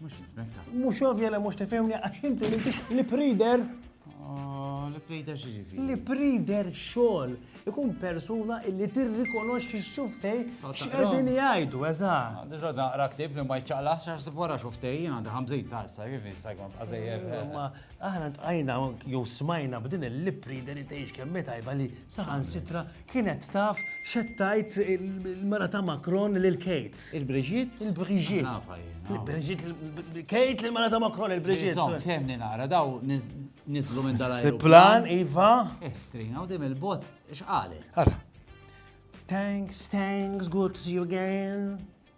Mhux nifmek ta'. Mhux ovvja li mhux tifhimni għax inti m'intix li prider. Oh, li prider xi ġifi. Li prider xogħol ikun persuna illi tirrikonoxxi x-xuftej oh, x'qegħdin jgħidu eżatt. Ah, diġà naqra ktib li ma jċaqlax għax wara xuftej jien għandi ħamżin ta' issa kif issa jkun bqażejjer. Eh, ma aħna tqajna jew smajna b'din il-li prider li tgħix kemm tajba li saħan sitra Kienet taf x'qed tgħid il-mara ta' Macron lil Kate. Il-Brigitte? Il-Brigitte. Nafha jien. Il-Brigitte, Kate l-mara ta' Macron, il-Brigitte. Insomma, fehmni nara, daw niżlu minn dal Il-plan, iva. Estrina, eh, u dim il-bot, x'qalet? Ara. Thanks, thanks, good to see you again.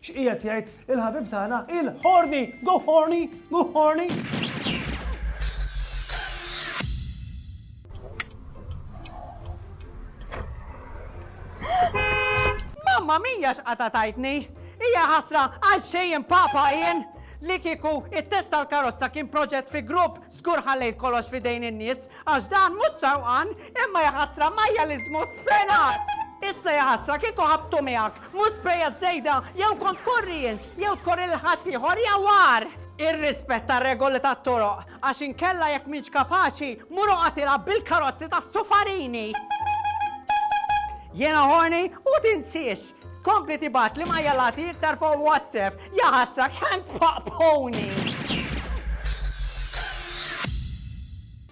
X'qiegħed jgħid il-ħabib tagħna il-Horny! Go Horny! Go Horny! Mamma mija x'qata tajtni. Hija ħasra għal xejn papa jien li kieku it-test tal-karozza kien proġett fi grupp Żgur ħallejt kollox f'idejn in-nies għax dan mhux sewqan imma jaħasra majjaliżmu sfrenat! Issa jaħasra kieku ħabbtu miegħek, mhux sprejat żejda jew kont tkorri int jew tkorri lil ħaddieħor jew agħar! Irrispetta r-regoli tat-toroq għax inkella jekk m'intx kapaċi mur oqgħod ilgħab bil-karozzi tas-sufarini! Jiena horny u tinsiex! Tkompli tibgħatli majjalati iktar fuq WhatsApp. Ja ħasra kemm tpaqpuni!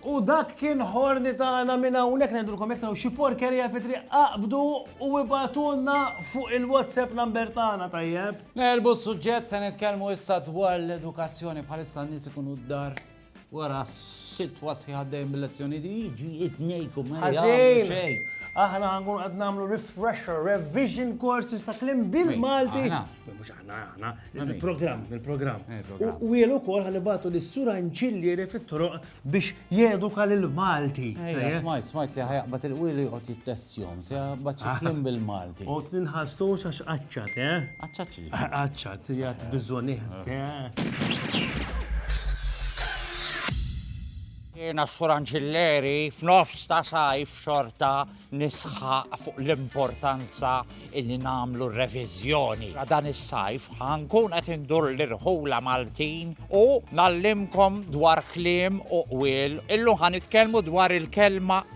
U dak kien ħorni tagħna minn hawnhekk ngħidulkom jekk xi porkerija fi triq aqbdu u ibatulna fuq il-WhatsApp number tagħna tajjeb. Nerbu s-suġġett se nitkellmu issa dwar l-edukazzjoni bħalissa n-nies ikunu d-dar Wara sitwa sħiħa dejjem bil-lezzjoni di jiġu jitnejku ma jagħmlu xejn. Aħna ħankun qed nagħmlu refresher, revision courses ta' klim bil-Malti. Mhux aħna aħna, il-programm, il-programm. U jien ukoll ħanibatu lis sur Anċillieri fit-troq biex jeduka lil Malti. Smajt, smajt li ħajaqbad il-wili jqgħod jittess Zzjon, se bat xi kliem bil-Malti. Qod ninħastux għax qaċċat, eh? Qaċċat xi? Qaċċat, jgħat biżonix, eh? Jena s-suranġilleri f'nofs ta' sajf xorta nisħaq fuq l-importanza illi namlu revizjoni. La dan is-sajf ħankun qed indur l-irħula Maltin u nallimkom dwar klim u qwil illu ħan dwar il-kelma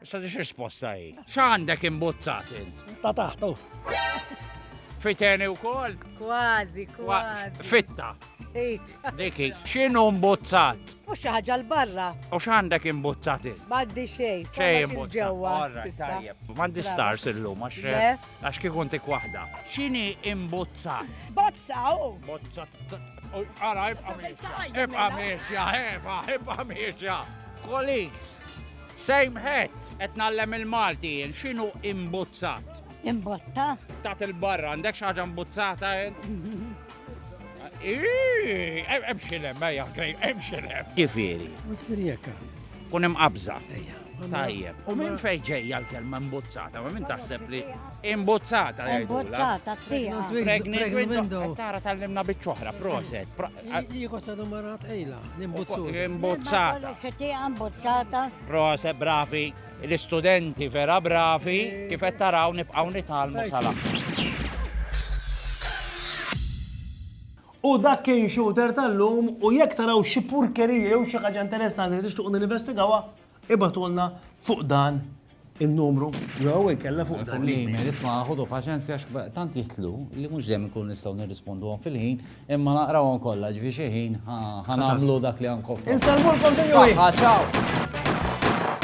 Issa di risposta hi. X'għandek imbuzzat int? Ta' taħtu. Fiteni wkoll? Kważi, kważi. Fitta. Diki, x'inhu mbuzzat? Mhux xi ħaġa l-barra. U x'għandek imbuzzat int? M'għandi xejn. Xejn imbuzzat. M'għandi stars illum għax għax kif kont ik waħda. X'inhi imbuzzat? Bozza u. Bozza. Ara, ibqa' miexja. Ibqa' miexja, ibqa' miexja. Kolis. Same hat! Qed ngħallem il-Malti jien, x'inhu imbuzzat? Imbotta? Tat il-barra, għandek xi ħaġa mbuzzata int? Ii, em- Emxilem, ejja, grej, emxilem. Ġifieri, Firjeka. kun imqabża. Ejja. Tajjeb. U minn fejn ġejja l-kelma mbuzzata, ma minn taħseb li Imbuzzata, Imbuzzata, tija. Pregnant window. Tara tal-limna bieċoħra, proset. Jiko sa domarat ejla, imbuzzata. Imbuzzata. Imbuzzata. Proset, bravi. L-istudenti vera bravi, kifet taraw nibqaw nitalmu sala. U dak kien shooter tal-lum u jekk taraw xi purkerija jew xi ħaġa interessanti li tixtuq nivestigawa, Ibgħatulna fuq dan in-numru jew inkella fuq dan l-email. Isma' ħudu paċenzja għax tant jitlu li mhux dejjem inkunu nistgħu nirrisponduhom fil-ħin, imma naqrawhom kollha ġifi xi ħin ħa nagħmlu dak li għandkom. Insellmulkom sinjuri! Saħħa, ċaw!